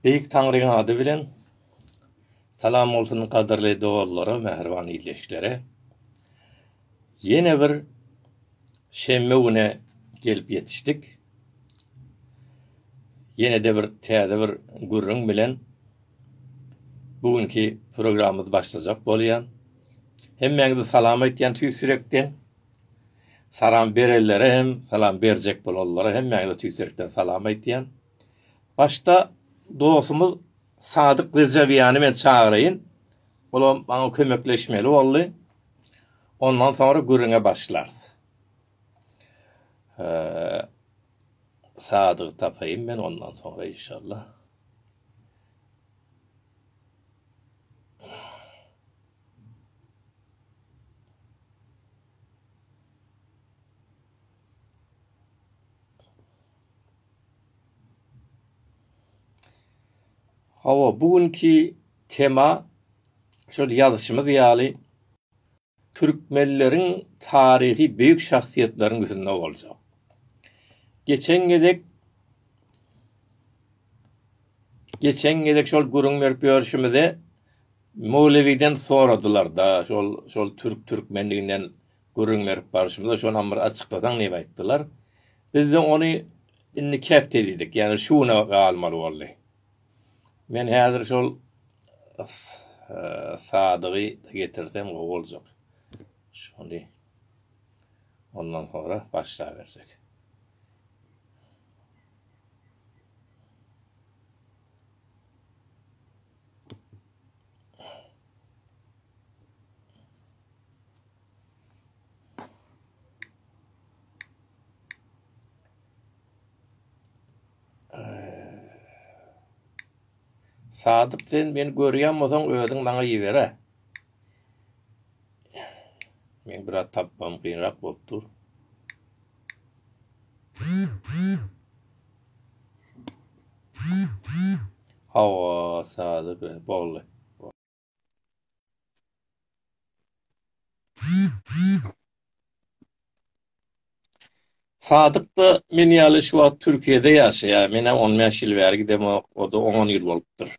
Beýik Taňryň ady bilen Salam bolsun gadyrly dogazlara mähriban ildeşlere ýene bir şenbe güne gelip ýetişdik ýenede bir täze bir gürrüň bilen bu günki programmamyz başlajak bolýa hemmäňizi salam aýtýan tüýs ýürekden. Salam berellere hem salam berjek bolanlara hem mäňle tüýsürekden salam aýtýan. Başda dostumyz Sadyk Rejebiýany men çagyraýyn. Olam maňa kömekleşmeli boldy. Ondan soňra gürrüňe başlarys. Sadyk tapaýyn men ondan soňra inşallah. Hawa, bu günki tema şol ýazyşymyz ýaly türkmenleriň taryhy beýik şahsyýetleriň üstünde boljak. Geçen gezek geçen gezek şol gürrüň berip ýörşümizde Möwlewiden soradylar-da, şol, şol türk türkmenliginden gürrüň berip barşymyzda, şonam bir açyklasaň diýip aýtdylar. Biz-de ony indiki hepde diýdik, ýagny şu güne galmaly boldy. Men häzir şol Sadygy getirsem gowy boljak. Şony ondan sonra başlabersek. Sadyk sen meni görýän bolsaň özüň maňa ýibere. Men biraz tapmam gynrak bolup dur. Hawa sazy be boldy. Sadykda men ýaly şu wagt Türkiýede ýaşaýar. Menä on bäş ýyl bäri gidemok, o-da on ýyl bolupdyr.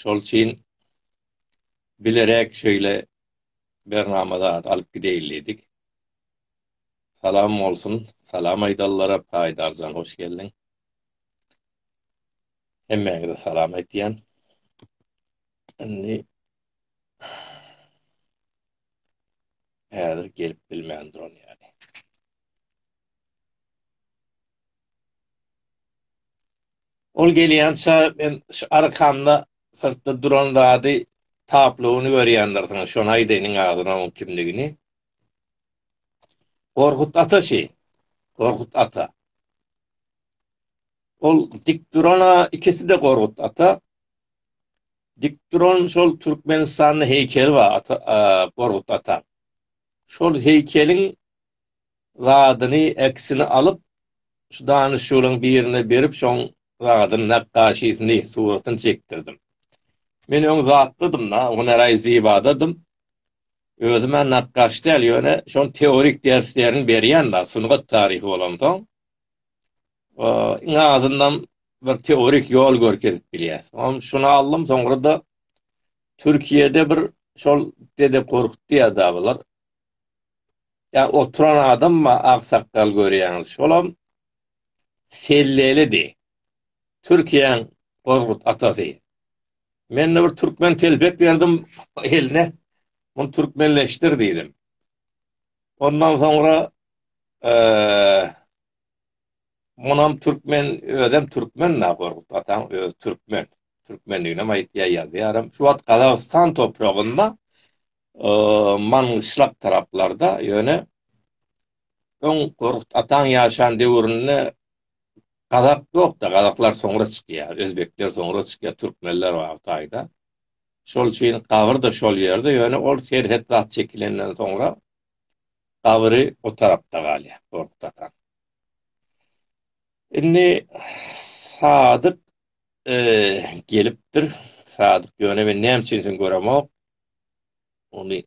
Şol üçin bilerek şeýle bernama zat alyp gideýin diýdik. Salam bolsun salam aýdanlara Paýdarjan hoş geldiň. Hemmäňize salam aýtýan. Indi häzir gelip bilmän duran ýaly. Ol gelýänçä men şu arkamda syrtda duran zady tablowyny görýändirsiňiz şony aýdaýynyň agzyna oň kimligini. Gorkut ata şi. Gorkut ata. Ol dik durana ikisi de Gorkut ata. Dik duran şol Türkmenistanda heýkeli bar ata, Gorkut ata. Şol heýkeliň zadyny eksini alyp şu danyşygyň birine berip şoň zadyny nakgaşysyny suratyny çekdirdim. Men öň zatlydym da, hünäraý zibadadym. Özüm hem nakgaş däl, ýöne şol teorik derslerini berýän bar, sungat taryhy bolansoň. Iň azyndan bir teorik ýol görkezip bilýär. Oňa şuny aldym, soňra-da Türkiýede bir şol Dede Korkut diýýär da bular. Ýa oturan adam bar, aksakgal görýäňiz. Şolam Sellelidi. Türkiýäň Korkut atasy. Men-de bir türkmen telpek berdim eline, muny türkmenleşdir diýdim. Ondan soňra munam türkmen, özem türkmen da Gorkut ataň öz türkmen. Türkmenligini aýtýar ýazýaram. Şu wagt Gazagystan topragynda Mangyşlak taraplarda ýöne öň Gorkut ataň ýaşan döwründe Gazak ýokda gazaklar soňra çykýar özbekler soňra çykýar türkmenler bar taýda şol üçin gabyrda şol ýerde ýöne ol serhet zat çekilenden soňra gabyry o tarapda galýar gorkut atan indi sadyk e, gelipdir sadyk ýöne men näme üçin sen göremok ony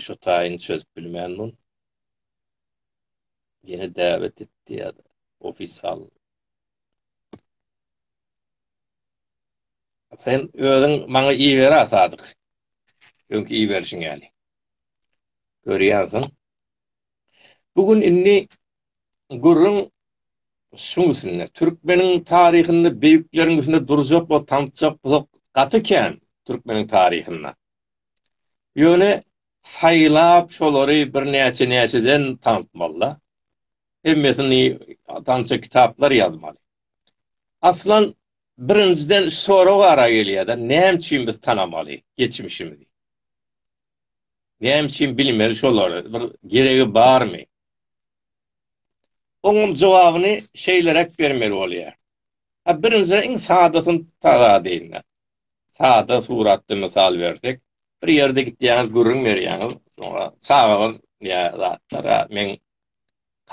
şu taýyny çözüp bilmän bul Ýene däwet etdi ya da ofisal. Sen özüň maňa iber a sadyk. Öňki iberişiň ýaly. Görýänsiň. Bu gün indi gürrüň şuň üstünde. Türkmeniň taryhynda beýikleriň üstünde durjak we tanşjak bolsak gaty kän türkmeniň taryhynda. Ýöne Saýlap şolary birnäçe näçeden tanatmalyda. Hemmesini tança kitaplar ýazmaly. Aslan birinjiden şu sorag ara gelýärde näme üçin biz tanamaly geçmişimizi. Näme üçin bilmeli şolary bir geregi barmy. Onuň jogabyny şeýleräk bermeli bolýar. Birinjiden iň sadasyny taradyň. Sada suratda mysal bersek, bir ýerde gitýäňiz, gürrüň berýäňiz, soňra çagalar ýa zatlara, meň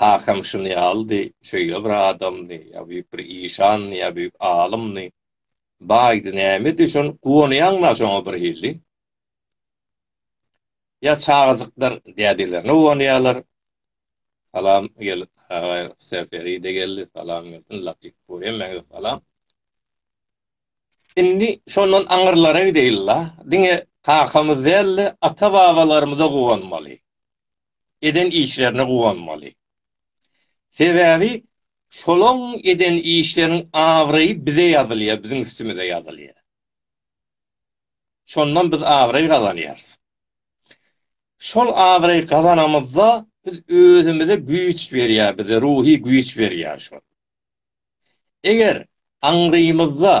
kakam şuny ýalydy, şeýle bir adamdy, ýa büýük bir işandy, ýa büýük alymdy, baýdy, nämedi, şony guwanýaň-la şoňa bir hili. Ýa çagajyklar dädelerine guwanýarlar. Salam gel, aga Serferide geldi, salam gelsin, Latif Buremäge salam. Indi şondan aňyrlara gideýin-la. Diňe kakamyz däl-de, ata-babalarymyza guwanmaly. Eden işlerine guwanmaly. Sebäbi şolaň eden işleriniň abraýy bize ýazylýar, biziň üstümize ýazylýar. Şondan biz abraý gazanýarys. Şol abraý gazanamyzda biz özümize güýç berýär, bize ruhy güýç berýär şol. Eger aňrymyzda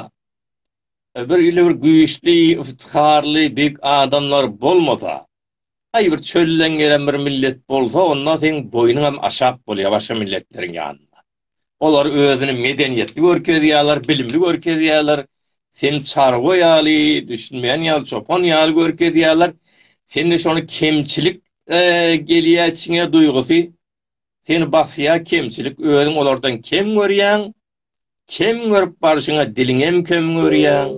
bir ýyly bir güýçli, yftyharly, beg adamlar bolmasa, aý bir çölden gelen bir millet bolsa, onda seň boýnuň hem aşak bolýar başga milletleriň ýanynda. Olar özüni medeniýetli görkezýärler, bilimli görkezýärler, seni çarwa ýaly, düşünmeýän ýaly, çopan ýaly görkezýärler. Sende şony kemçilik gelýär içiňe duýgusy. seni basýar kemçilik özüň olardan kem görýäň kem görüp barşyňa diliňem kem görýäň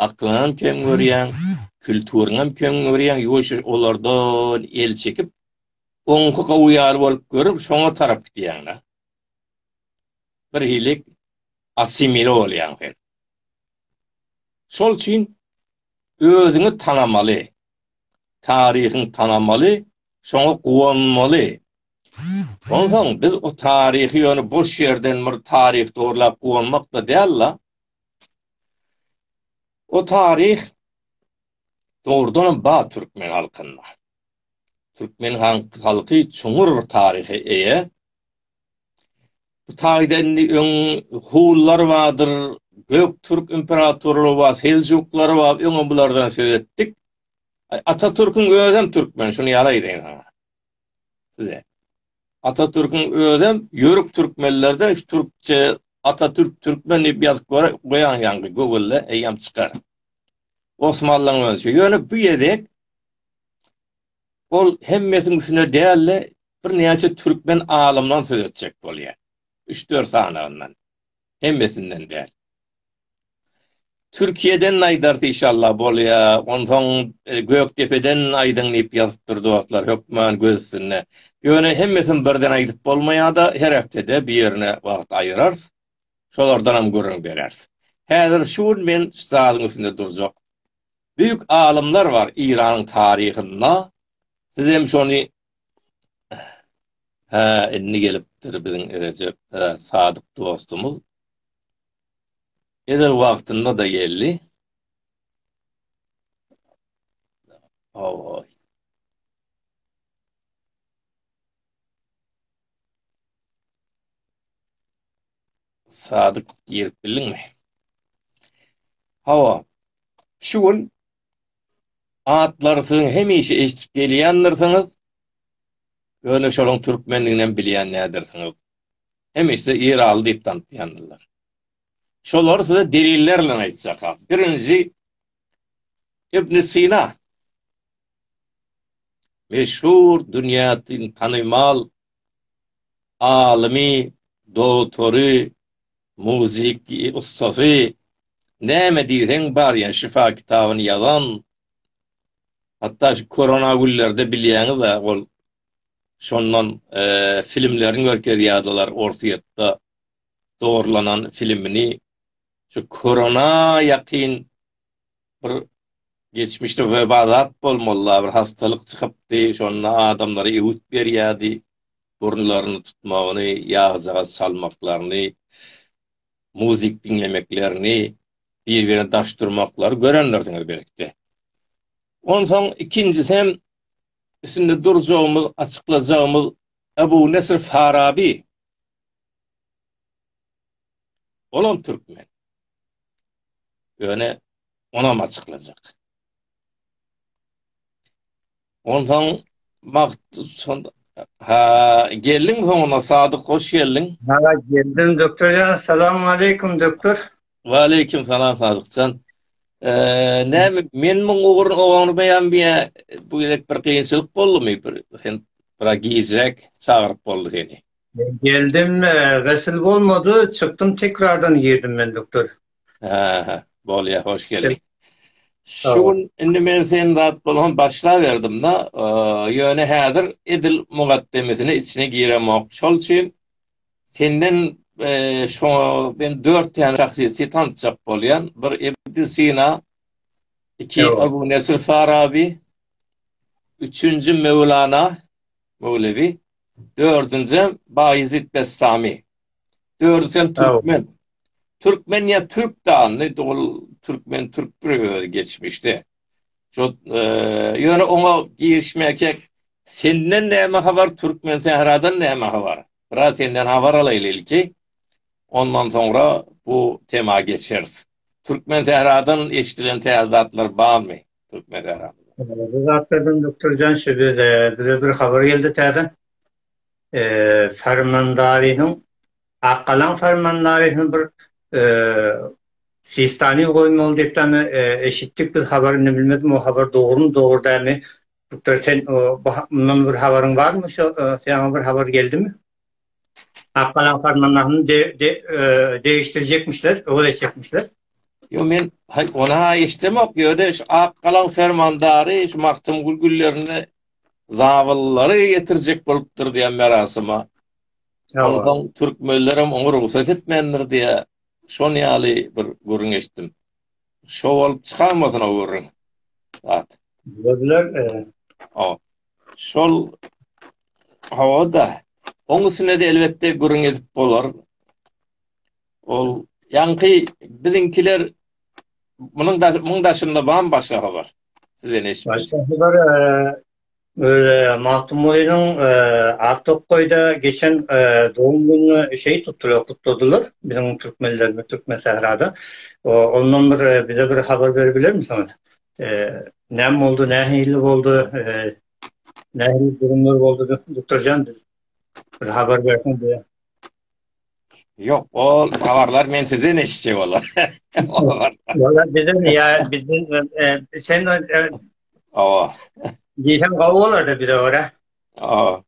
aklyňam kem görýäň kültüriňem kem görýäň ýuwaş-ýuwaş olardan el çekip oňki gowy ýaly bolup görüp şoňa tarap gidýäň-da bir hili asimile bolýaň sen şol üçin özüňi tanamaly taryhyň tanamaly, şoňa guwanmaly. Onsoň biz o taryhy ýöne boş ýerden bir taryh dogurlap guwanmak-da däl-la. O taryh dogrudanam bar türkmen halkynda. Türkmen halky çuňňur bir taryha eýe. Bu taýda indi öň Hunlar bardyr, Göktürk imperatorlary bar, Seljuklar bar, öňem bulardan söz etdik. Atatürküň özem türkmen, şuny ýaly aýdaýyn saňa. Size. Atatürküň özem ýörük türkmenlerde şu türkçe Atatürk türkmen diýip ýazyp goýaň ýaňky Google-da eýýäm çykar. Osmanlyň özi. Ýöne bu ýedek Ol hemmesiniň üstüne däl-de, birnäçe türkmen alymdan söz etjek bolýar. Üç-dört sanagyndan. Hemmesinden däl. Türkiýeden aýdarys işallah bolýa, onsoň Gökdepeden aýdyň diýip ýazypdyr dostlar, hökman göz üstünde. Ýöne hemmesini birden aýdyp bolmaýa-da, her hepdede bir ýerine wagt aýyrarys. Şolardanam gürrüň bereris. Häzir şu gün men şu zadyň üstünde durjak Büyük alymlar bar Iranyň taryhynda siz hem şony Hä indi gelipdir biziň Rejep Sadyk dostumyz. Ezel wagtynda da geldi. Oy. Sadyk girip bildiňmi? Hawa. Şu gün atlary siziň hemişe eşidip gelýändirsiňiz. Ýöne şonuň türkmendigini hem bilýän nädersiňiz. Hemişe Ýeraly diýip tanatýandyrlar. Şolary size deliller bilen aýtjakam. Birinji Ibn Sina. Meşhur dünýäde tanymal alymy, dogtory, muzyk ussasy, näme diýseň bar ýa şyfa kitabyny ýazan, hatda şu korona günlerde bilýäňiz-ä ol şondan filmlerini görkezýärdiler Orsýetde dogurlanan filmini şu korona ýakyn bir geçmişde webazat bolmalyda bir hastalyk çykypdy, şonda adamlara öwüt berýärdi, burunlaryny tutmagyny, ýagjagaz çalmaklaryny, muzyk diňlemeklerini, bir-birine daş durmaklary görendirsiňiz belki-de. Onsoň ikinjisi hem üstünde durjagymyz, açyklajagymyz Ebu Nesr Farabi Olam türkmen. Ýöne onam açyklajak. Ondan magt son ha geldiň soňuna sadyk hoş geldiň. Ha geldim doktor ya salam aleykum doktor. Wa aleykum salam sadyk can. Eee ne men muň ugur oňurmayan bir bu gerek bir kynçylyk boldy mi bir sen bir gizrek çagyryp boldy seni. Geldim, gysl bolmady, çykdym tekrardan girdim men doktor. Aha, bolýa, hoş geldiň. Şu gün indi men sen zat bolan başlaberdim-de, ýöne häzir edil mugaddemesine içine giremok. Şol üçin senden şu men dört täne şahsyýeti tanşjak bolýan. Bir Ibn Sina, iki Abu Nesr Farabi, üçünji Mewlana, möwlewi, dördünjem Baýezit Bestami. Dördüsi hem türkmen. Türkmen ýa türk dany, dogry türkmen türk bir özi geçmişde. Şo ýöne oňa girişmäkek senden näme habar türkmen sähradan näme habar? Biraz senden habar alaýly ilki. Ondan soňra bu tema geçeris. Türkmen sähradan eşdilen täze zatlar barmy? Türkmen Eýran. Bu zatlardan Doktor Jan şu bize bir habar geldi täze. Eee Fermandarynyň Akkalan Fermandarynyň bir eee Sistani goýmaly diýip täze eşitdik biz habar indi bilmedim o habar dogrumy dogry dämi. Doktor sen o bundan bir habaryň barmy şu sen bir habar geldimi? Akgalaň farmannahyny degişdirjekmişler, öwez etjekmişler. Ýo men ony ha eşdemok ýöne şu Akgalaň fermandary şu Magtymgul günlerinde zabyllary getirjek bolupdyr diýen merasyma. Ýa-da türkmenler hem oňa rugsat etmändir diýä. Şon ýaly bir gürrüň eşitdim. Şo bolup çykanmasyn o gürrüň. Ýa-da. Ýa-da. Ýa-da. Şol hawa-da. Oň üstüne-de elbetde gürrüň edip bolar. Ol ýaňky biziňkiler munuň da muň daşynda bam başga habar. Sizden eşitdim. Başga habar öle Magtymgulynyň Aktokaýda geçen dogum gününi şeýt tutdular, gutladylar. Biziň türkmenlerimiz Türkmensährada. Ondan bir bize bir habar berip bilermisiňiz? Näme boldy, nähili boldy, nähili durumlar boldy, Duktorjan, bir habar berseň diýýän. Ýok, ol habarlar men sizden eşitjek bolar. Ýa bizden, ýa bizden, sen Awa. Diýsem gowy bolar-da bize görä. Awa.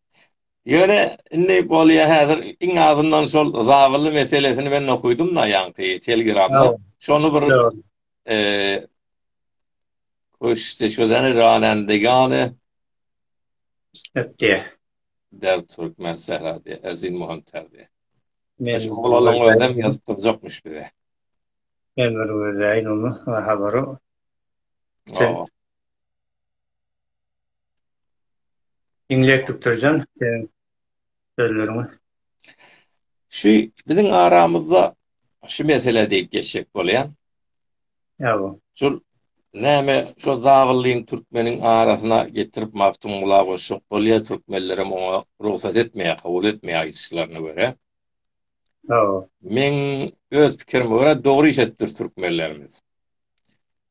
Ýöne indi bolýa häzir iň azyndan şol zabyly meselesini men okuýdum-da ýaňky telegramda. Şony bir Küşdi şudan ralende ýaly. Öpdi. Der Türkmen Serhadi, Ezin Muhim Terdi. Men olaryň önem ýazyp durjakmyş bize. Men bir gözleýin ony, habary. Diňläp tutdurjan, sen sözleriňe. Şu biziň aramyzda şu mesele diýip geçjek bolýan. Ýa-o. Şul näme şo zabyllyň türkmeniň arasyna getirip Magtymgula goşjak bolýa, türkmenlerem oňa rugsat etmeýä, kabul etmeýä aýdyşlaryna görä. Ýa-o. Meň öz pikirime görä dogry iş etdir türkmenlerimiz.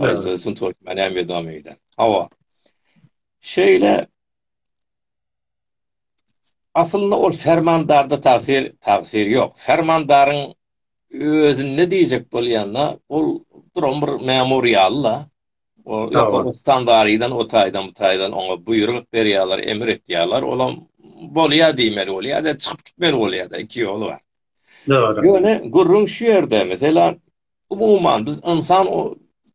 Aýza sun tort mena medam eýden. Hawa. Şeýle Aslynda ol fermandarda tagsir tagsir ýok. Fermandaryň özünde diýjek bolýanda ol duran bir memur ýaly-la. O Ýokargystan darydan o taýdan bu taýdan oňa buýruk berýärler, emir etýärler. Olam bolýa diýmeli bolýa-da, çykyp gitmeli bolýa-da, iki ýoly bar. Ýöne gürrüň şu ýerde, meselem, Umuman, biz ynsan,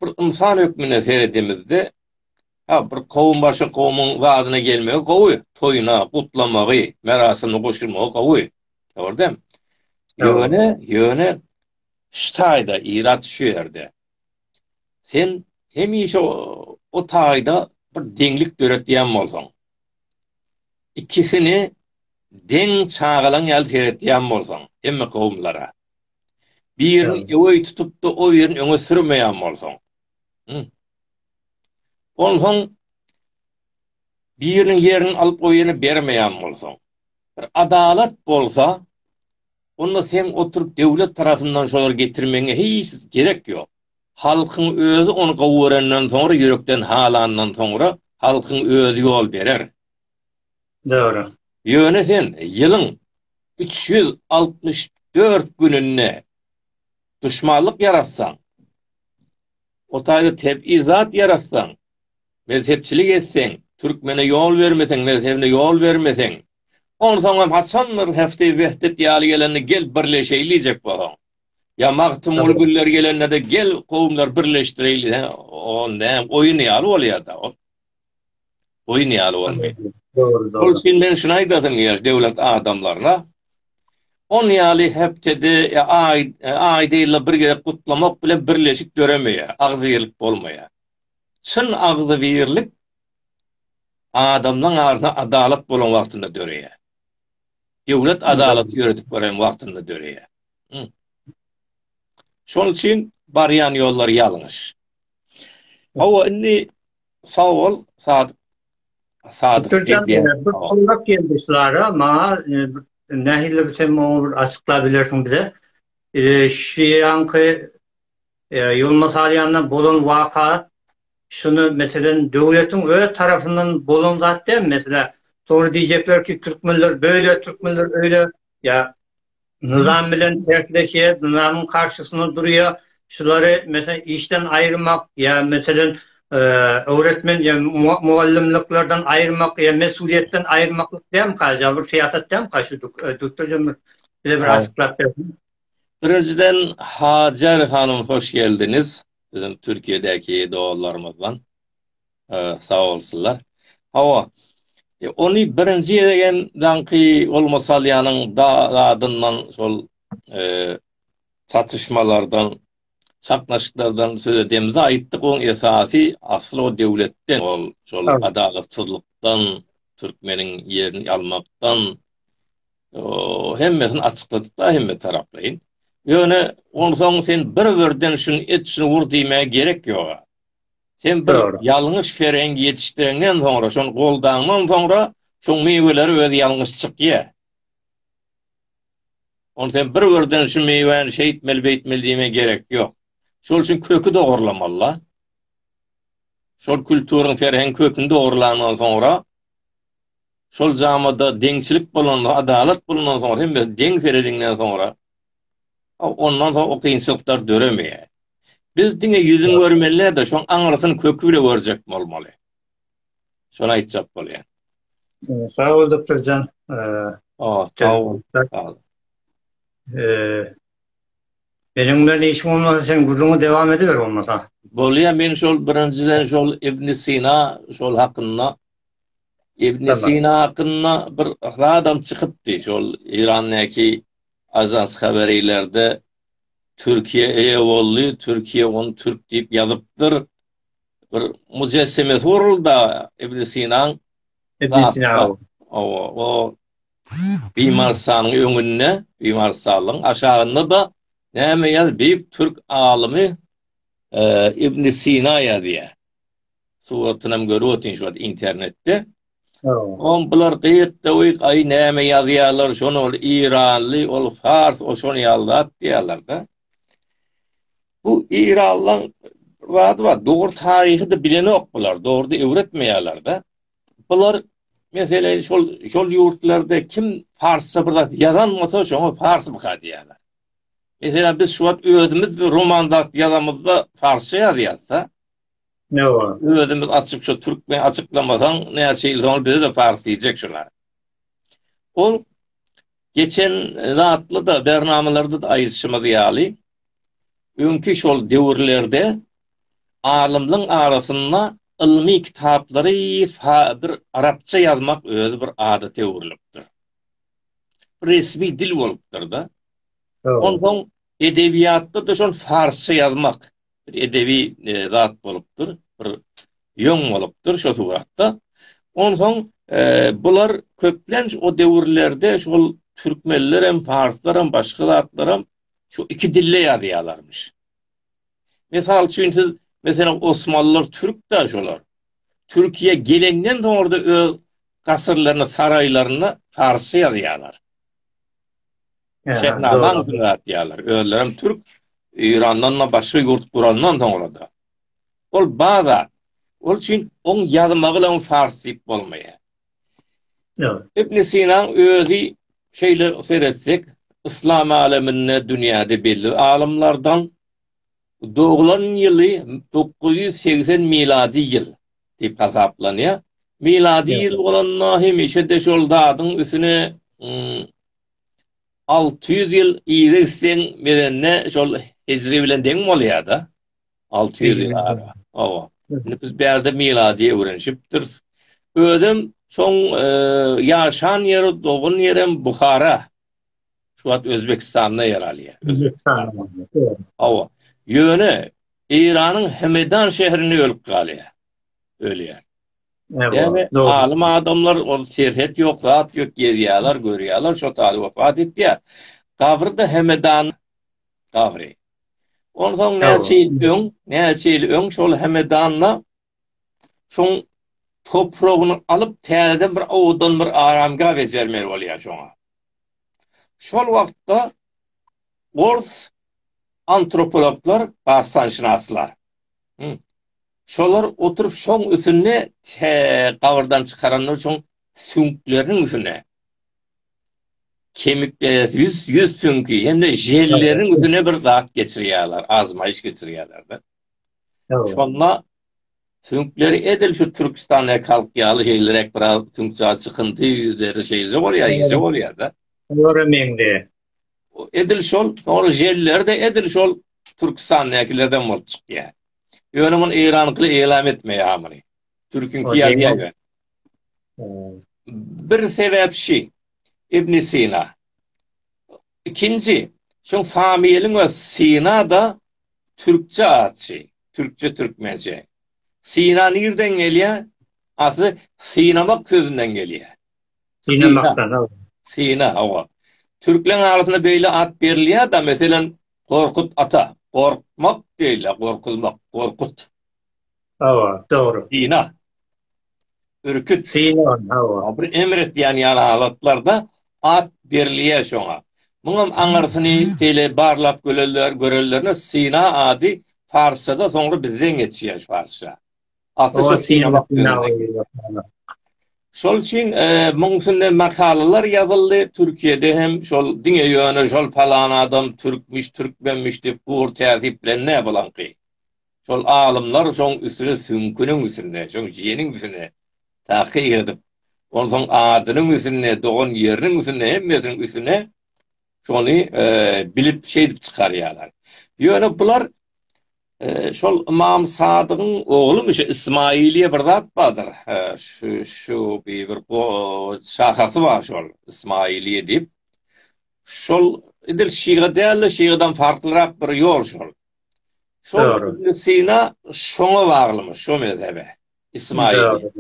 bir ynsan hökmünde seredemizde, ha, bir kowum başga kowumyň zadyna gelmegi gowy, toýuna, gutlamagy, merasimine goşulmagy gowy. Dogrudan. Ýöne, ýöne ştaýda irat şu ýerde. Sen hemişe o taýda bir deňlik döretýän bolsaň, ikisini deň çagalan ýaly seretýän bolsaň, hemme kowumlara, Birini öweý tutup-da, o birini öňe sürmeýän bolsaň. Hü. Onsoň biriniň ýerini alyp goýana bermeýän bolsaň. Bir adalat bolsa, onda seň oturyp döwlet tarapyndan şolary getirmegiňe hiç gerek ýok. Halkyň özi ony gowy görenden soňra, ýürekden halandan soňra halkyň özi ýol berer. Dogry. Ýöne sen ýylyň üç ýüz altmyş dört gününde duşmanlyk ýaratsaň, o taýda tebigy zat ýaratsaň, mezhepçilik etseň, türkmene ýol bermeseň, mezhebine ýol bermeseň, onsoňam haçandyr Hefti Wehdet ýaly gelende gel birleşeýli diýjek bolsaň. Ýa Magtymguly Güller gelende-de gel kowumlary birleşdireýli diýseň, o näme oýun ýaly bolýa-da ol. Goýun ýaly bolmaýar. Dogry, dogry. Şol üçin men şuny aýdasym gelýär döwlet adamlaryna, on ýaly hepdede ýa aý, aýda ýylda bir gezek gutlamak bilen birleşik döremeýär, agzybirlik bolmaýar. Çyn agzybirlik adamlaryň arasynda adalat bolan wagtynda döreýär. Döwlet adalaty ýöredip beren wagtynda döreýär. Hum. Şol üçin barýan ýollary ýalňyş. Hawa, indi Sag bol, Sadyk. Sadyk. Türkçe diýmek, bu sorak geldi şulara, maňa e, nähili bir sen muňa bir açyklap bilersiň bize. E, şu ýanky e, ýolma salýandan bolan waka şuny meselen döwletiň öz tarapyndan bolan zat däl, meselä soňra diýjekler ki, türkmenler böyle, türkmenler öyle, ýa Nyzam bilen tersleşýär, nyzamyň garşysynda durýar. Şulary meselem işden aýyrmak ýa meselem öwretmen ýa mugallymlyklardan aýyrmak ýa mesulyýetden aýyrmaklyk dälmika, ja bir syýasat dälmika şu duktorjan bir bize bir açyklap berseň. Birinjiden Hajar hanym hoş geldiňiz. Biziň Türkiýedäki doganlarymyzdan. Sag bolsunlar. Hawa, ony birinji gezek hem daňky goluma salýanyň zadyndan, şol çatyşmalardan, çaknaşyklardan söz edemizde aýtdyk, oň esasy asly o döwletden, ol şol adalatsyzlykdan, türkmeniň ýerini almakdan, hemmesini açykladyk-da hemme taraplaýyn. Ýöne onsoň sen bir-birden şuny et, şuny ur diýmäge gerek ýog-a. Sen bir ýalňyş ferengi ýetişdiriňden soňra, şony goldaňdan soňra, şoň miweleri özi ýalňyş çykýa. Ony sen bir birden şu miwäni şeýtmeli, beýtmeli diýmä gerek ýok. Şol üçin köki dogurlamaly. Şol kulturyň ferheň köküni dogurlandan soňra, şol jamada deňçilik bolanda, adalat bolanda, soň hem deň serediňden soňra, Ondan soň o kynçylyklar döremeýär. Biz diňe ýüzüni görmeli däl-de, şoň aňyrsyny köki bile görjek bolmaly. Şony aýtjak bolýan. Sag bol, doktorjan. Aa, sag bol. Meniň bilen işim bolmasa, sen gürrüňi dowam ediber bolmasa. Bolýa, men şol birinjiden şol Ibn Sina şol hakynda Ibn Sina hakynda bir zadam çykypdy, şol Eýrandaky Ajans haber ileride Türkiýe eýe boldy, Türkiýe ony türk diýip ýazypdyr. Bir müjessemesi guruldy Ibn Sinaň. Ibn Sina. Owa, o Bimarstanyň öňünde, Bimarstanyň aşagynda-da näme ýaz, beýik türk alymy Ibn Sina ýazýar. Suratynam görüp otyň şu wagt internetde. Oň bular gyýyk döwik aý näme ýazýarlar şony ol iranly ol fars ol şony ýazat diýýärlerde. Bu iranlaň wady bar dogry taryhy da bilenok bular dogry öwretmeýärlerde. Bular meselem şol şol ýurtlarda kim farsça bir zat ýazan bolsa şoňa fars bu diýýärler. Meselem biz şu wagt özümiz roman zat ýazamyzda farsça ýazýarsa Ne bar? Özümiz açyp şu türkmen açyklamasaň näçe ýyl soň bize de pars diýjek şuna. Ol geçen zatly da bernamalarda da aýdyşymyz ýaly öňki şol döwürlerde alymlaryň arasynda ylmy kitaplary bir arapça ýazmak özi bir adata öwrülipdir. Resmi dil bolupdyr-da. Ondan edebiýatda da şol farsça ýazmak bir edebi zat bolupdyr, bir ýoň bolupdyr şo suratda. Onsoň bular köplenç o döwürlerde şol türkmenler hem, parslar hem, başga zatlar hem şu iki dilde ýazýarlarmyş. Mysal üçin siz meselem Osmanlylar türk da şolar. Türkiýe gelenden soň orada öz gasyrlaryny, saraýlaryny parsça ýazýarlar. Şehnama günat diýerler. Özlerim türk Eýrandan da başga ýurt gurandan soňra da. Ol baza. Ol üçin on ýazmagy bilen fars diýip bolmaýar. Ýok. Ibn Sina özi şeýle seretsek, yslam aleminde dünýäde belli alymlardan doglan ýyly 980 miladi ýyl diýip hasaplanýar. Miladi ýyl bolanda hemişe de şol zadyň üstüne Alty ýüz ýyl yza gitseň Medende şol hijri bilen deň bolýada. Alty ýüz ýyl ara. Hawa. Indi biz bärde miladiýe öwrenişipdiris. Özem şoň ýaşan ýeri, dogan ýerem Buhara. Şu wagt Özbekistanda ýer alýar. Hawa. Ýöne Eýranyň Hemedan şehrinde ölüp galýar. Ölýär. Ýöne alym adamlar ol serhet ýok, zat ýok, gezýärler, görýärler, şo taýda wepat etýär. Gabry da Hemedan gabry. Onsoň näçe ýyl öň, näçe ýyl öň şol Hemedanda şoň topragyny alyp, täzeden bir owadan bir aramgah bejermeli bolýar şoňa. Şol wagtda ors antropologlar, bassanşynaslar, Şolar oturyp şoň üsünde tä gabyrdan çykaranlar şoň süňkleriniň üsünde kemik ýüz ýüz süňki hemde jelleriň üsüne bir zat geçirýärler azmaýyş geçirýärler-de. Şonda süňkleri edil şu Türkistan ekalk ýaly şeýlerek bir az süňkja çykyndy ýüzleri şeýle bolýar ýeje bolýar-da. Olara meňde. Edil şol ol jellerde edil şol Türkistan näkilerden bolup çykýar. Ýöne muny Eýran gyl eýlam etmeýär muny. Türküňki ýazýar ýöne. Bir sebäp şi, Ibn Sina. Ikinji, şoň Familiň we Sina-da türkçe atçy, türkçe türkmençe. Sina nirden gelýär? Asly synamak sözünden gelýär. Synamakdan. Sina, hawa. Türkleň arasynda beýle at berilýär-de, meselem, Gorkut ata, gorkmak beýle gorkuzmak, gorkut. Hawa, dogry. Syna. Ürküt. Syna, hawa. Bir emr etýän ýaly halatlarda at berilýär şoňa. Muňam aňyrsyny şeýle barlap görenlerine syna ady parsçada soňra bizden geçýär şu parsça. Şol üçin muň üstünde makalalar ýazyldy, Türkiýede hem şol diňe ýöne şol palan adam türkmüş, türkmenmiş diýip gor täzip bilen nä bolaňky. Şol alymlar şoň üstüne süňküniň üstüne, şoň jeniň üstüne takyk edip, onsoň adynyň üstüne, dogan ýeriniň üstüne, hemmesiniň üstüne şony bilip şeýdip çykarýarlar. Ýöne bular Şol Ymam Sadygyň oglumy şu Ismailiýe bir zat bardyr. Şu şu bir bir şahasy bar şol Ismailiýe diýip. Şol edil şiga däl-de şigadan farklyrak bir ýol şol. Şol Ibn Sina şoňa baglymyş, şo mezhebe. Ismaili.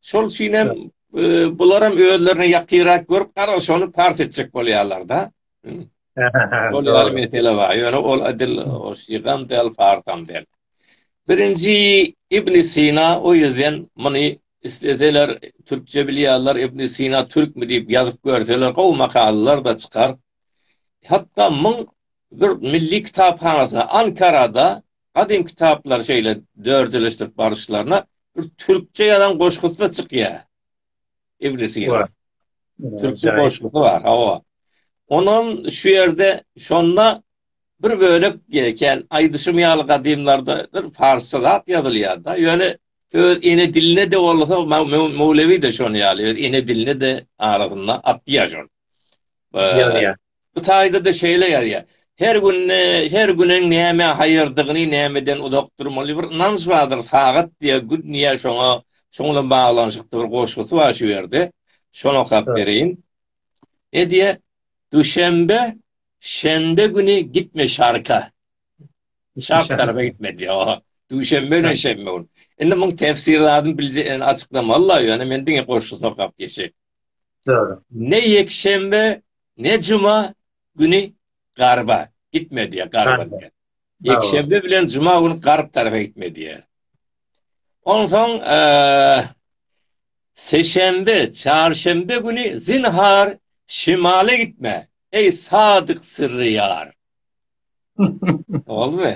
Şol üçin hem bular hem özlerine ýakynrak görüp gara şony pars etjek bolýarlar-da. Şol ýaly mesele bar. Ýöne ol edil o şigam del farsam del. Birinji Ibn Sina o ýerden muny isleseler türkçe bilýärler Ibn Sina türkmi diýip ýazyp görseler gowy makalalar da çykar. Hatda muň bir milli kitaphanasyna Ankarada Gadym kitaplary şeýle dörjeleşdirip baryşlaryna bir türkçe ýazan goşgusy-da çykýar. Iblisi ýer. Türkçe goşgusy bar, hawa. Onam şu ýerde şonda bir bölek ýeken aýdyşym ýaly gadymlarda bir parsça zat ýazylýar-da. Ýöne öz ene diline-de bolsa Möwlewi-de şonuň ýaly öz ene diline-de arasynda atýar şony. Ýazýar. Bu taýda-da şeýle ýazýar, Her günde, her günüň nämä haýyrdygyny, nämeden uzak durmaly bir ynanç bardyr, sagat diýýär, gün diýýär, şoňa, şoň bilen baglanyşykly bir goşgusy bar şu ýerde. Şony okap bereýin. Ne diýýär? Duşenbe, şenbe güni gitme şarka. Şark tarapa gitme diýýär. Duşenbe bilen şenbe güni. Indi muň tefsir zadyny bilje, ýöne açyklamaly-la, ýöne men diňe goşgusyny okap geçeýin. Ne ýekşenbe, ne juma güni garba gitme diýýär, garba diýýär. Ýekşenbe bilen juma güni garp tarapa gitme diýýär. Onsoň seşenbe, çarşenbe güni zinhar şimala gitme, eý sadyk syrry ýar. Boldumy?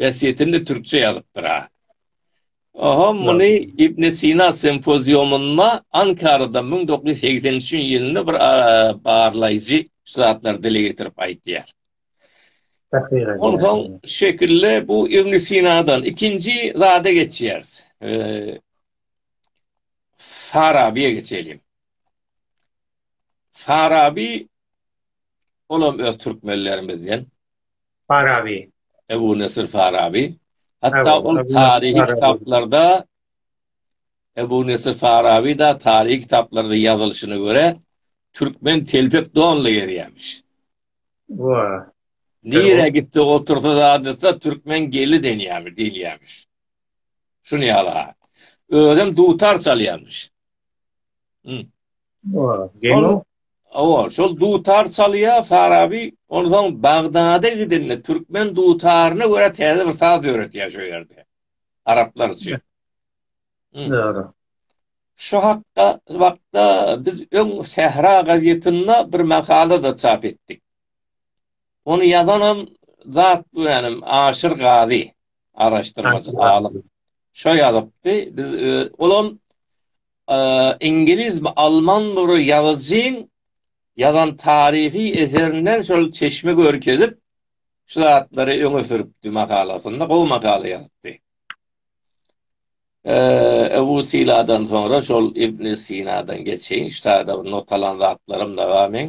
Wesýetini türkçe ýazypdyr ha. Oho muny Ibn Sina sempoziumynda Ankarada müň dokuz ýüz segsen üçünji ýylynda bir barlaýjy şu zatlary dile getirip aýtýar. Onsoň şekilli bu Ibn Sinadan ikinji zada geçýäris. Farabiýe geçelim. Farabi olam öz türkmenlerimizden. Faraby. Ebu Nesir Faraby. Hatda ol taryhy kitaplarda Ebu Nesir Faraby da taryhy kitaplarda ýazylyşyna görä türkmen telpek donly gerýämiş. Wa. Nire gitdi otursa zadysa türkmen geli denýämi diýilýämiş. Şuny ýala. Özüm dutar çalýarmyş. Geňo. Awa, şol dutar çalýa Farabi, onsoň Bagdada gidende türkmen dutaryna görä täze bir saz döretýär şo ýerde. Araplar üçin. Dogry. Şu hakda wagtda biz öň Sähra gazetinde bir makala da çap etdik. Ony ýazanam zat bilenim Aşyr Gazi, araşdyrmaçy alym. Şo ýazypdy, biz olam iňliz mi alman bir ýazyjyň ýazan taryhy eserinden şol çeşme görkezip şu zatlary öňe sürüpdi makalasynda gowy makala ýazypdy. Ebu Siladan soňra şol İbn Sinadan geçeýin, ştada bir notalan zatlarym da bar meň.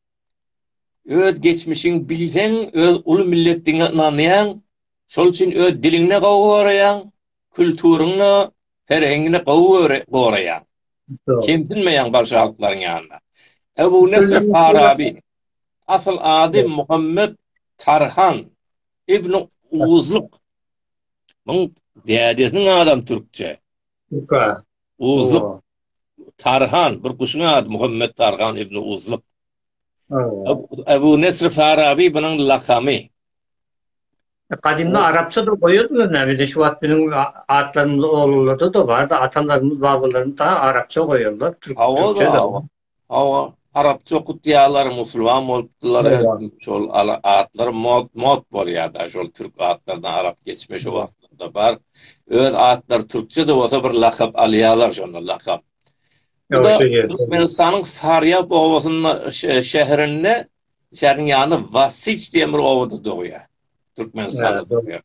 Öz geçmişiňi bilseň, öz uly milletiňe ynanýaň, şol üçin öz diliňde gowy goraýaň, külturyňda, ferheňde gowy goraýaň. Kemsinmeýäň bagşy halklaryň ýanynda. Ebu Nesr Faraby, asyl ady Muhammet Tarhan ibn Owuzlyk. Muň dädesiniň adam türkçe. Süper. Uzluk. Tarhan, bir guşuň ady Muhammet Tarhan ibn Uzluk. Abu Nesr Farabi bunun lakamy. Gadimda arapça da goýardylar näme de şu wagt biziň atlarymyz oglanlarda da bar da atalarymyz babalarymyz da arapça goýarlar türkçe de. Hawa, arapça okutýarlar, musulman bolupdylar, şol atlar mod, mod bolýar-da, şol türk atlardan arap geçme şu wagtlarda bar. Öz atlary türkçe-de bolsa bir lakap alýarlar şonda lakap. Türkmenistanyň Farýap obasynda şäherinde, şäheriň ýanynda Wasiç diýen bir obada dogýar. Türkmenistanda dogýar.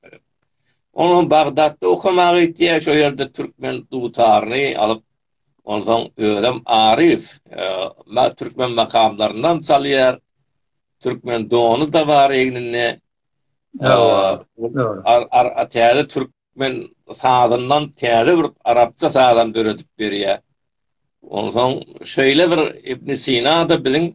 Onuň Bagdatda okamaga gitýär, şo ýerde türkmen dutaryny alyp, Onsoň özem Aryf türkmen makamlaryndan çalýar. Türkmen dony-da bar egninde. Ýa-a, täze türkmen sazyndan täze bir arapça sazam döredip berýär. Onsoň şeýle bir Ibn Sina-da biziň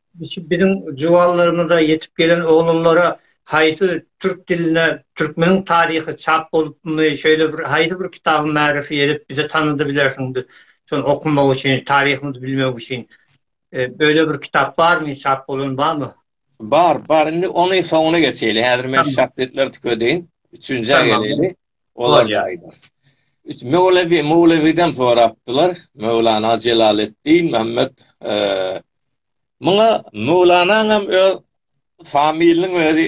Şu biziň juwanlarymyza, ýetip gelen oglanlara haýsy türk dilinde Türkmeniň taryhy çap bolupmy, şeýle bir haýsy bir kitaby märifi edip bize tanydy bilersiň biz şony okamak üçin, taryhymyzy bilmek üçin. Öýle bir kitap barmy, çap bolan barmy? Bar, bar. Indi ony soňuna geçeýli. Häzir men şahsyýetleri tükedeýin. Üçünjä geleli. Tamam. Olar ýaýylar. Üç möwlewi, möwlewiden sorapdylar. Möwlana Jelaleddin Mämmet Muňa möwlanaňam öz familiýaň özi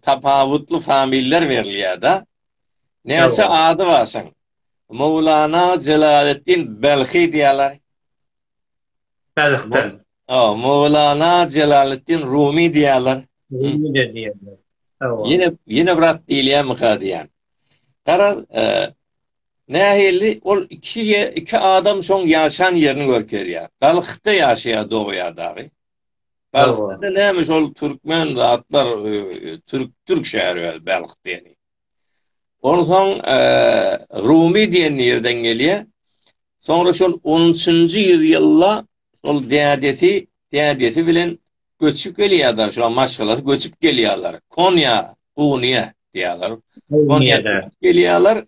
tapawutly familiýalar berilýär-de. Näçe ady bar şoň? Möwlana Jelaleddin Belhi diýýärler. Tazyhdan. O, Mowlana Jelaleddin Rumy diýýärler. Rumy-de diýýärler. Hawa. Ýene, ýene bir at diýilýärmika diýýän. Garaz, e, nähili ol iki iki adam şoň ýaşan ýerini görkezýär. Balhda ýaşaýar dogýar dagy. Balhda näme şol türkmen zatlar e, e, türk türk şäheri Balh diýeni. Onsoň Rumy diýen ýerden gelýär. Soňra şol on üçünji ýüzýylda ol dädesi, dädesi bilen göçüp gelýär-de, şoň maşgalasy göçüp gelýärler. Konýa, Kunýa diýýärler. Konýa gelýärler.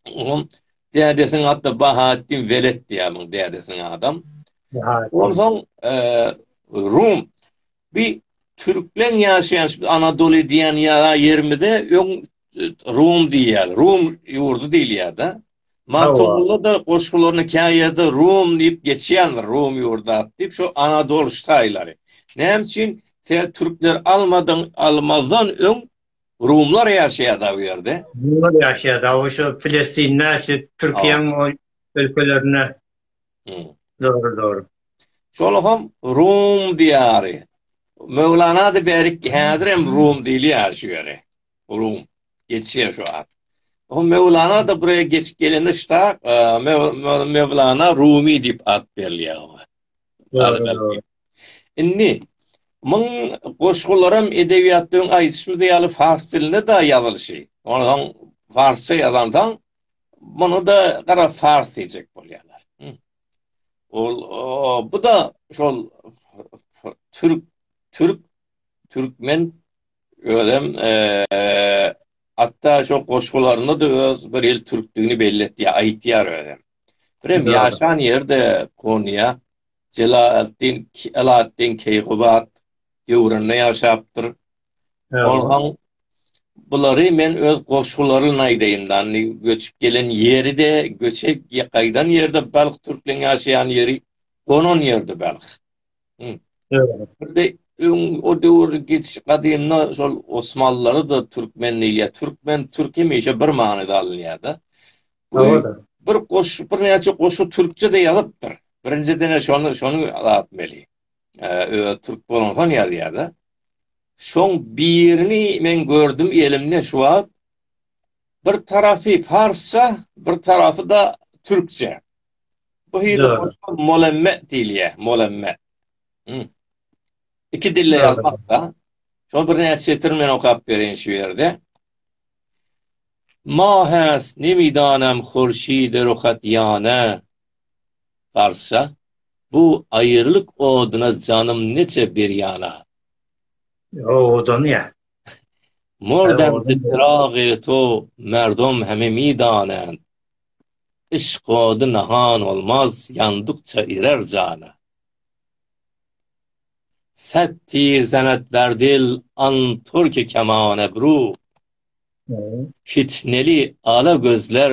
Onuň dädesiniň ady Bahattin Welet diýýär muň dädesiniň adam. Onsoň Rum Bi türkleň ýaşaýan şu Anadoly diýen ýa ýerimize öň Rum diýýär. Rum ýurdy diýilýär-de. Magtymgulyda goşgularyny käýerde Rum diýip geçýändir, Rum ýurdy diýip, şu Anadol ştaýlary. Näme üçin sen türkler almadyň, almazdan öň Rumlar ýaşaýardy bu ýerde. Rumlar ýaşaýardy, şu Pilestinde, şu Türkiýäň ol ülkelerinde. Dogry, dogry. Şonuň hem Rum diýary. Möwlanada bärik häzir hem Rum diýilýär şu ýere. Rum. Geçýär şu at. O Möwlana da buraya geçip gelende şta e, Möwlana Rumi diýip at berilýär oňa. Indi muň goşgularam edebiýatlaryň aýdyşymyz ýaly fars dilinde de ýazylyşy. Ondan farsça ýazandan Muny da gara fars diýjek bolýarlar. Ol bu da şol türk türk türkmen özem hatta şu goşgularynda da öz bir il türkdigini belli etýär, aýtýar özem. Birem ýaşan ýerde Konya Celaleddin Alaaddin Keykubat döwründe ýaşapdyr. Onsoň bulary men öz goşgularyn aýdaýyn da, indi göçüp gelen ýeri-de, göçe gaýdan ýeri-de Balh türkleň ýaşaýan ýeri, gonan ýeri-de Balh. O döwür geçiş gadymda şol Osmanlylary-da türkmen diýilýär. Türkmen, türk hemişe bir manyda alynýar-da. Bir goşgy, birnäçe goşgy türkçe-de ýazypdyr. Birinjiden-ä şony, şony aýtmaly. özi türk bolansoň ýazýar-da. Şoň birini men gördüm elimde şu wagt. Bir tarapy parsça, bir tarapy da türkçe. Bu hili molemme diýilýär, molemme. Iki dilde ýazmakda. Şol bir näçe ýetir men okap bereýin şu ýerde. Mahas nemidanam hurşide ruhat ýana, Parsça, Bu aýyrlyk oduna janym neçe bir ýana. O odan ýa. Mor demsi çyragy to merdom heme midanän. Yşk ody nahan olmaz, ýandykça irer jana. Set tir senet ber dil an turki keman ebru. Fitneli ala gözler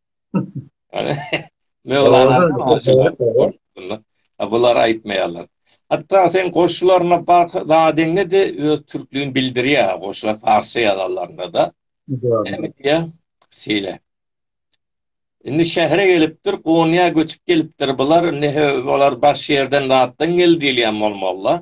Bular aýtmaýarlar. Hatda sen goşularyna bak, zadyňy de öz türklügini bildirýär, goşular parsça ýazanlarynda-da. Şeýle. Indi şähere gelipdir, Gonyýa göçüp gelipdir bular, indi bular baş ýerden, zatdan geldi diýilýän bolmalylar.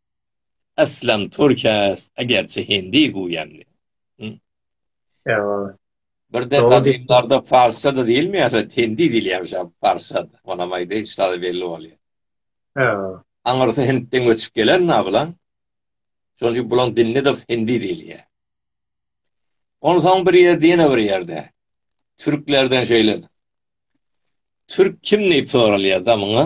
Aslam Turkes egerçi hindi guýandy. Ýa. Birde gadymlarda parsça-da diýilmeýär, hindi diýilýärmiş ýa parsça-da. Onam aýdy, şa-da belli bolýar. Ýa. Aňyrsy hintden göçüp gelen-ä bulaň. Şonuň üçin bulaň dinine-de hindi diýilýär. Onsoň bir ýerde, ýene bir ýerde türklerden şeýle Türk kim diýip soralýar-da muňa.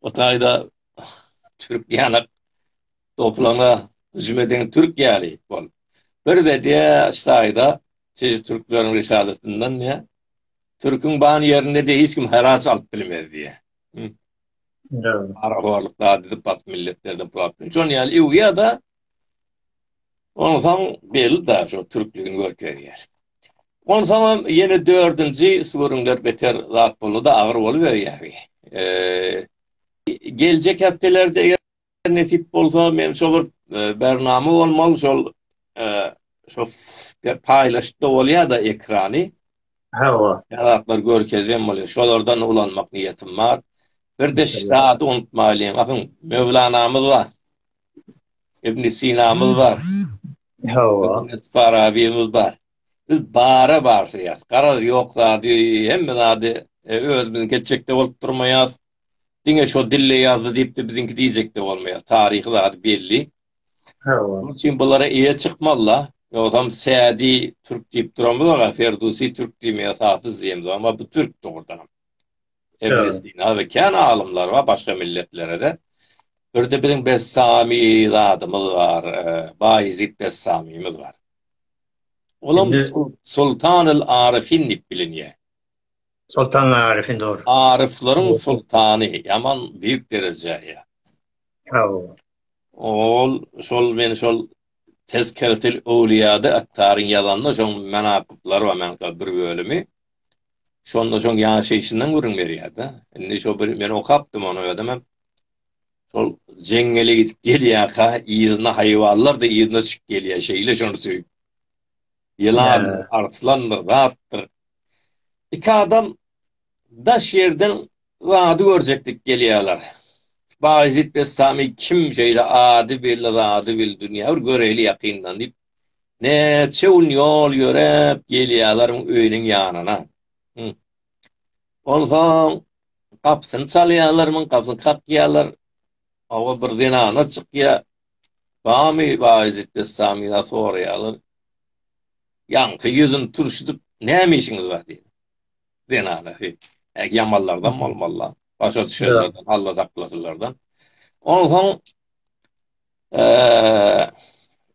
O taýda türk ýanak toplaňa hüjüm eden türk ýaly bol. Bir de diýä ştaýda siz türkleriň risalasyndan diýä. Türküň ban ýerinde diýä hiç kim heraç alyp bilmez diýä. Ara horluk da diýip bak milletlerden pul alyp. Şoň ýaly ýa-da Onsoň belli daş ol türkligini görkezýär. Onsoňam ýene dördünji sürüňler beter zat boldy-da agyr boluberýäri. Geljek hepdelerde eger nesip bolsa men şo bir bernama bolmaly şol şo paýlaşyp-da bolýar-da ekrany. Hawa. Ýaratlar görkezýän bolýar. Şolardan ulanmak niýetim bar. Bir-de şitady unutmaýlyň. Ahyň Möwlanamyz bar. Ibn Sinamyz bar. Hawa. Farabiýmiz bar. Biz bara barsyýas. Garaz ýok zady, hemme zady e, özümiziň geçjekde bolup durmaýas. Diňe şo dille ýazdy diýipdi, biziňki diýjekde bolmaýas. Taryhy zady belli. Hawa. Şonuň üçin bulara eýe çykmalla. Ýogsam Sädi türk diýip duramyz aga, Ferdusi türk diýmeýäs, Hafiz diýemiz, emma bu türk dogrudan. Ibn Sina we kän alymlar bar başga milletlerede. Birde biziň Bessami zadymyz bar, e, Bayezid Bessamimiz bar. Olam Sultan el Arifin diýip bilinýär. Sultan Arifin dogry. Arifleriň sultany, ýaman büyük derejä eýe. Ol şol men şol Tezkeretil Owliýada Attaryň ýazanda şoň menakyplary bar, meňkä bir bölümi. Şonda şoň ýaşaýşyndan gürrüň berýär-de. Indi şo bir men okapdym ony özüm hem. Şol jeňňele gidip gelýärkä, yzyna haýwanlar-da yzyna çykyp gelýär, şeýle şony söýüp. Ýylan, arslandyr, zatdyr. Iki adam daş ýerden zady görjeklik gelýärler. Baýezit Bestami kim şeýle ady belli zady bil dünýä bir göreýli ýakyndan diýip, Näçe gün ýol ýöräp gelýärler öýüniň ýanyna. Onsoň gapysyny çalýarlar, muň gapysyny kakýarlar. Awa bir zenana çykýar. Bamy Baýjyt Bessamyna soraýarlar. Ýaňky ýüzüni turşudyp, näme işiňiz bar diýýär. Zenana, heý, ägi ýamanlardan bolmaly-la. Başa düşenlerden, Alla saklasynlardan. Onsoň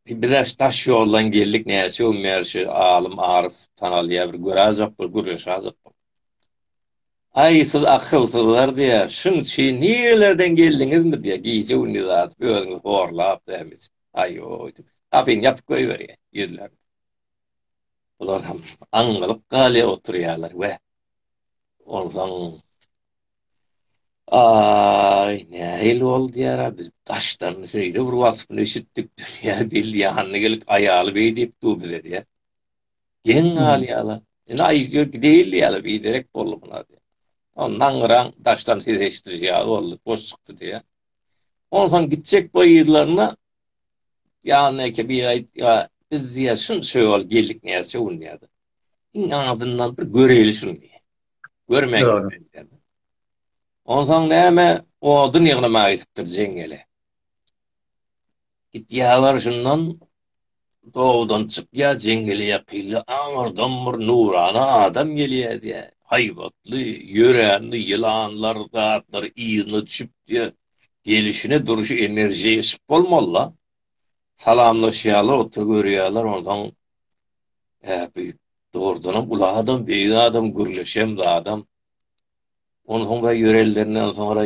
Bizler daş ýoldan geldik, näçe gün bäri şu alym Aryf tanalýar, bir göräýjek bolup gürleşäýjek. Aý, siz akylsyzlar diýýär. Şuň üçin nirelerden geldiňizmi diýýär. Gije gündiz atyp özüňizi horlap dämit. Aýoý, gapyny ýapyp goýberýär ýüzlerini. Bular hem aňňylyp galýar oturýarlar we onsoň Aý, nähili boldy ýara, biz daşdan şeýle bir waspyny eşitdik, dünýä belli ýanyna gelip, aýaly beý diýip dur bize diýýä. Geň galýala, indi aý ýör gideýli diýýäle, biderek boldy buna diýýä. Ondan gyraň daşdan ses eşitdi ýaly boldy, boş çykdy diýýä. Onsoň gitjek boýlaryna ýanyna eke bir aýt, ýa biz diýýä şunça ýol geldik näçe gün diýýä. iň azyndan bir göreýli şuny. Görmän gitmeli. Onsoň näme odun ýygnamaga gitipdir jeňňele. Gitýärler şundan dowdan çykýar jeňňele ýakynda aňyrdan bir nurana adam gelýär diýär. Haýbatly, ýöränli ýylanlar, zatlar yzyna düşüp diýär. Gelişine durşy enerjiýa ýyşyk bolmaly-la. Salamlaşýarlar, oturyp görýärler, onsoň Hä beýik. Dogrudanam uly adam, beýik adam, gürleşem zadam. Ondan soňra ýörellerinden soňra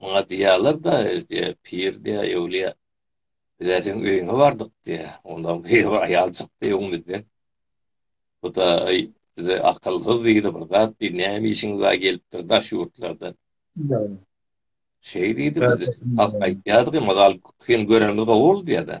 maňa diýýärler-de, diýýär, pir diýýär, ýewliýa. Biz-ä seň öýüňe bardyk diýýär. Ondan bir aýal çykdy öňümizden. Bu da bize akylsyz diýdi, bir zat diýdi, näme işiňiz bar gelipdir daş ýurtlardan. Şeý diýdi, biz has aýtýardyk, ýöne gal, seni görenimiz gowy boldy diýýär-de.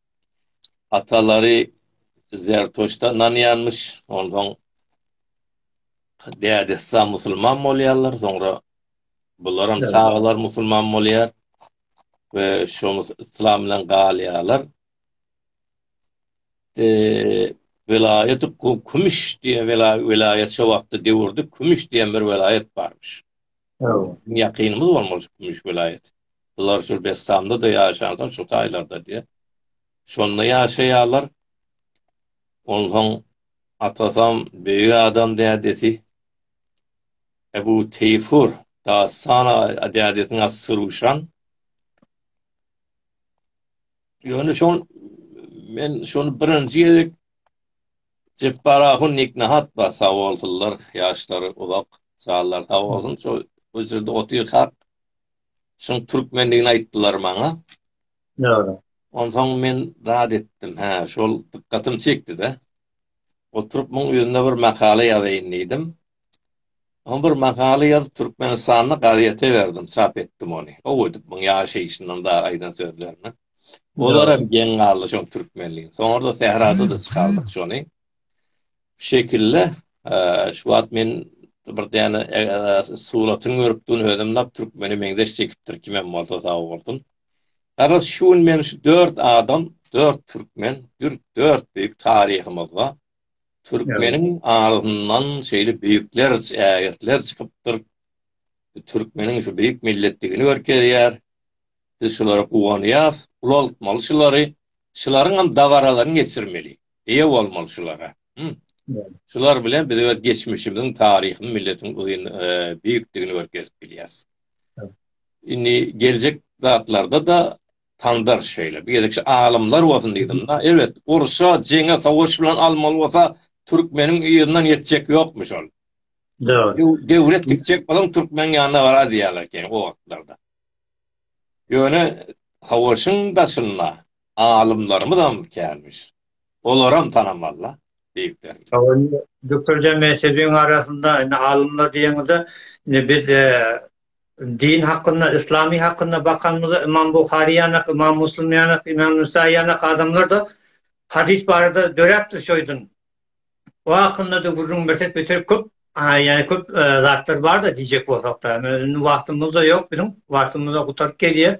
Atalary Zertoşda ynanýarmyş, onsoň dädesi-ha musulman bolýarlar, soňra bularam çagalar musulman bolýar we şo yslam bilen galýarlar. Eee welaýaty Kümüş diýen welaýat şo wagtda döwürde Kümüş diýen bir welaýat barmyş. Ýakynymyz bolmaly şu Kümüş welaýat. Bular şu Bessamda-da ýaşansoň şu taýlarda diýýär. Şonda ýaşaýarlar. Onsoň atasam beýik adam dädesi Ebu Teýfur Dastan dädesiniň ady Syruşan. Ýöne şol men şony birinji gezek Jepbar ahun nik nahat bar sagbolsunlar ýaşlary uzak janlary sag bolsun şo bu jerde otyrkak şuň türkmenligini aýtdylar maňa Dogry. Onsoň men zat etdim hä şol dykgatym çekdide oturyp muň üzinde bir makala ýazaýyn diýdim Oňa bir makala ýazyp Türkmenistanda gazete berdim, çap etdim ony. Gowy edip muň ýaşaýşyndan da aýdan sözlerinden. Olar hem geň galdy şoň türkmenligiň. Soňra sährada da çykardyk şony. Bu şekilde şu wagt men bir däne suratyny görüp durun özüm nap türkmene meňzeş çekipdir kimem bolsa sag bolsun. Garaz şu gün meni şu dört adam, dört türkmen, dört beýik taryhymyzda Türkmeniň agzyndan şeýle beýikler, ägirtler çykypdyr. Bu türkmeniň şu beýik milletdigini görkezýär. Biz şulara guwanýas, ulaltmaly şulary, şularyňam dabaralaryny geçirmeli, eýe bolmaly şulara. Şular bilen biz öz geçmişimiziň, taryhyň, milletiň uzyn beýikdigini görkezip bilýäs. Indi geljek zatlarda-da Tandar şeýle. Bir gezekçe alymlar bolsun diýdim-de. Elbet, urşa, jeňe, sowaş bilen almaly bolsa, türkmeniň yzyndan ýetjek ýokmuş ol. Dogry. Döwlet dikjek bolan türkmeniň ýanyna barar diýýärler ekeni o wagtlarda. Ýöne sowaşyň daşynda alymlarymyzam känmiş. olaram tanamalla diýip berdi. Hawa indi Dökülje men sözüň arasynda indi alymlar diýeniňizde indi biz din hakynda yslamy hakynda bakanymyzda Ymam Buhary ýanak Ymam Muslym ýanak Ymam Nusai ýanak adamlarda hadys barada döräpdir şoýdun o hakynda da gürrüň bersek beter köp ýa köp zatlar barda diýjek bolsakda indi wagtymyzda ýok biziň wagtymyzda gutaryp gelýär.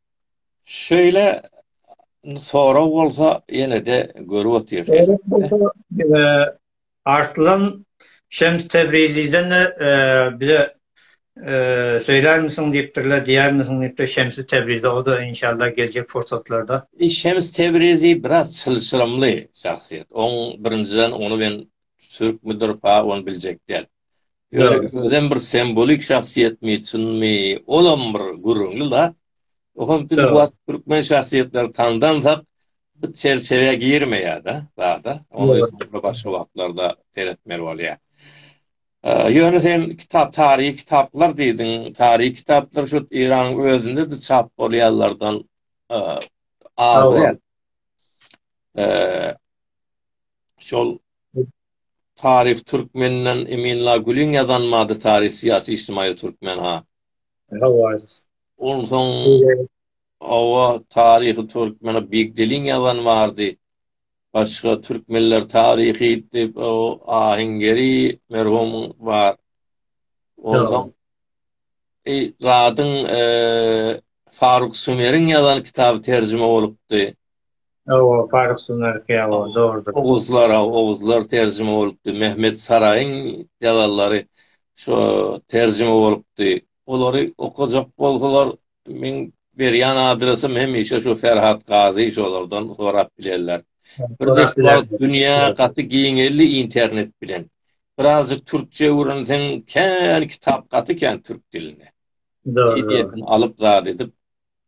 Şeýle sorag bolsa ýene-de görüp otyrsyň. Arslan Şems Tebrizliden bize söýlärmisiň diýipdirler, diýermisiň diýipdir Şemsi Tebrize o-da inşallah geljek pursatlarda. Şems Tebrizi biraz çylşyrymly şahsyýet. Oň birinjiden ony men türkmüdir pa ony biljek däl. Ýöne özem bir sembolik şahsyýetmi, çynmy, olam bir gürrüňli-la. Olam biz bu wagt türkmen şahsyýetleri tandamsak, bu çerçewä girmeýär-de zada. Ony öýsem başga wagtlarda seretmeli bolýar. Ýöne sen kitap, taryhy kitaplar diýdiň. Taryhy kitaplar şu Eýranyň özünde-de çap bolýanlardan az däl. Şol Taryh Türkmeninden Emin la Gülüň ýazan Mady Taryh Syýasy Ijtimaýy Türkmen ha. Hawas. Onsoň Hawa Taryhy Türkmena Big Deliň ýazany bardy. Başga Türkmenler Taryhy diýip o Aheňgeri merhumyň bar. Onsoň e, Radyň e, Faruk Sumeriň ýazan kitaby terjime bolupdy. Hawa, paryslyň erki, hawa, dogrudyr. Oguzlar, hawa, oguzlar terjime bolupdy. Mehmet Saraýyň ýazanlary şo terjime bolupdy. Olary okajak bolsalar, meň berýän adresim hemişe şu Ferhat Gazy şolardan sorap bilerler. Bir beş wagt dünýä gaty giňeldi internet bilen. Birazjyk türkçe öwrenseň kän kitap gaty kän türk dilinde. Pdf-ini alyp zat edip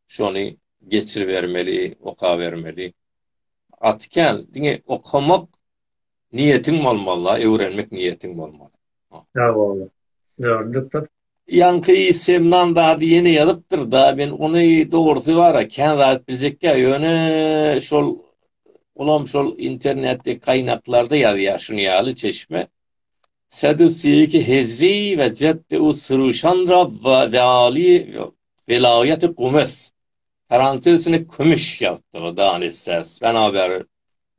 şony geçiribermeli, okabermeli. Gaty kän, diňe okamak niýetiň bolmaly-da, öwrenmek niýetiň bolmaly. Sag bol. Öwrendikdir. Ýaňky Semnan zady ýene ýazypdyr-da, men ony dogrusy bar-a, kän zat biljekkä, ýöne şol, olam şol internetdäki gaýnaklarda ýazýar şuny ýaly çeşme. Sedusiýiki hezri we ceddeu siruşan rabba ve ali Welaýaty gumes, karantilsini kümüş ýagtygy dan essäs Bänabäri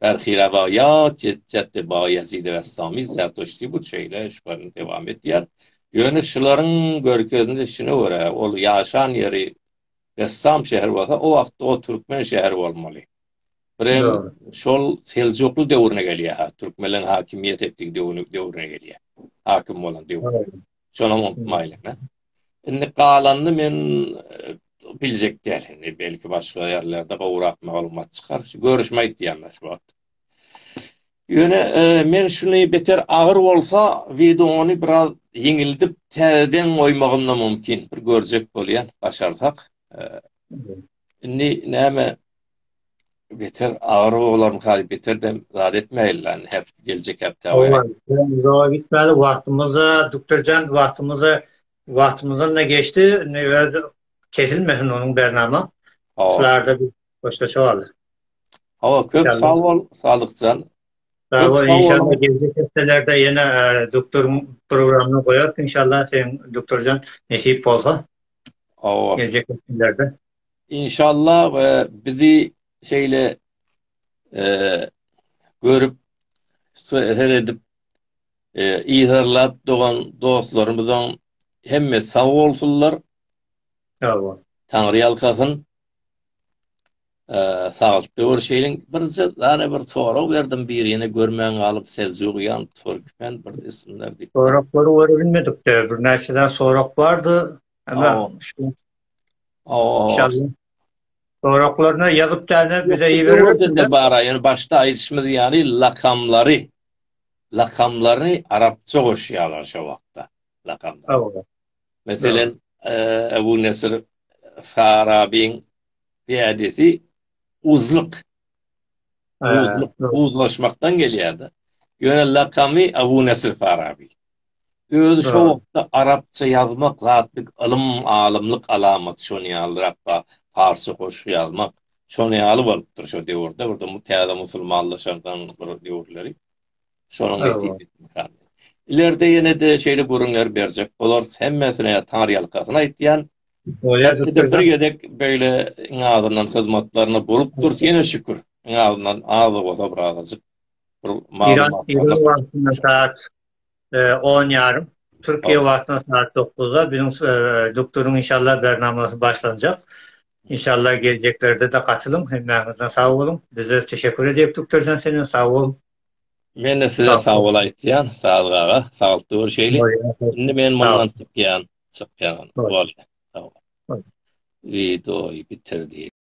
Bärhire baýat ýetjätti Baýezidi Bestami Zertuşti bu çeýle eşkbaryny dewam etýär. Ýöne şularyň görkezilişine görä, ol ýaşan ýeri Bestam şäheri bolsa, o wagtda o türkmen şäheri bolmaly. Birem şol seljukly döwrüne gelýär, ha, türkmenleriň hakimiýet etdigi döwrüne gelýär. Hakim bolan döwrüne. Şonam unutmaýlyň, hä? Indi galanyny men biljek däl. Indi belki başga ýerlerde gowrak maglumat çykar. Şu görüşme aýtýan-da şu wagt. Ýöne men şuny beter agyr bolsa, wideony biraz ýeňildip täzeden goýmagym-da mümkin. Bir görjek bolýan, başarsak. Indi näme beter agyr bolarmyka diýip beter dem zat etmäýeli häp geljek hepdä goýaýyn. Owaý gitmeli wagtymyza duktorjan wagtymyza wagtymyzdan-da geçdi indi öz kesilmesin onuň bernama şularda bir hoşlaşyp aldyk. Hawa köp sag bol Sadykjan. Sag bol inşallah geljek hepdelerde ýene doktoryň programyny goýarys inşallah seň doktorjan nesip bolsa. Hawa. Geljek günlerde. İnşallah we bizi şeyle eee görüp her edip eee izarlap dogan dostlarymyzyň hemme sag bolsunlar. Sag bol. Taňry ýalkasyn. Saglyk ol şeýleň birje dana bir sorag berdim birine görmän galyp Seljugian Türkmen bir isimler diýip. Soraklary görüp bilmedikde bir näçeden sorag bardy. Ana şu. Aw. Soraklaryna ýazyp dana bize iberildi. Bara ýöne başda aýdyşymyz ýaly lakamlary lakamlaryny arapça goşýarlar şu wagtda. Lakamlar. Meselen, Ebu Nesr Farabiň dädesi Uzlyk. Uzlyk, uzlaşmakdan gelýärdi. Ýöne lakamy Ebu Nesr Farabi. Özi şo wagtda arapça ýazmak zat bir ylym, alymlyk alamaty şony ýalyrak bar. Parsça goşgy ýazmak şony ýaly bolupdyr şo döwürde. Bir de bu täze musulmanlaşandan bir döwürleri. Şonuň netijesi ýaly. Ileride ýene-de şeýle gürrüňleri berjek bolarys. Hemmesine ýatan ýalkasyny aýtýan. Bir gezek beýle iň azyndan hyzmatlaryny bolup dursa ýene şükür. Iň azyndan az-da bolsa bir azajyk bir maglumat. Ýöne wagtynda saat on ýarym. Türkiýe wagtyna saat dokuzda biziň doktoryň inşallah bernamasy başlanjak. İnşallah geljeklerde-de gatylyň. Hemmäňiz-de sag boluň. Biz-de teşekkür edýäs doktorjan seniň sag bol. Men-de size sag bol aýtýan, Sadyk aga. Saglyk görüşeýlik. Indi men mundan çykýan, çykýan. Bolýa. Sag bol. Wideoýy bitir diýip.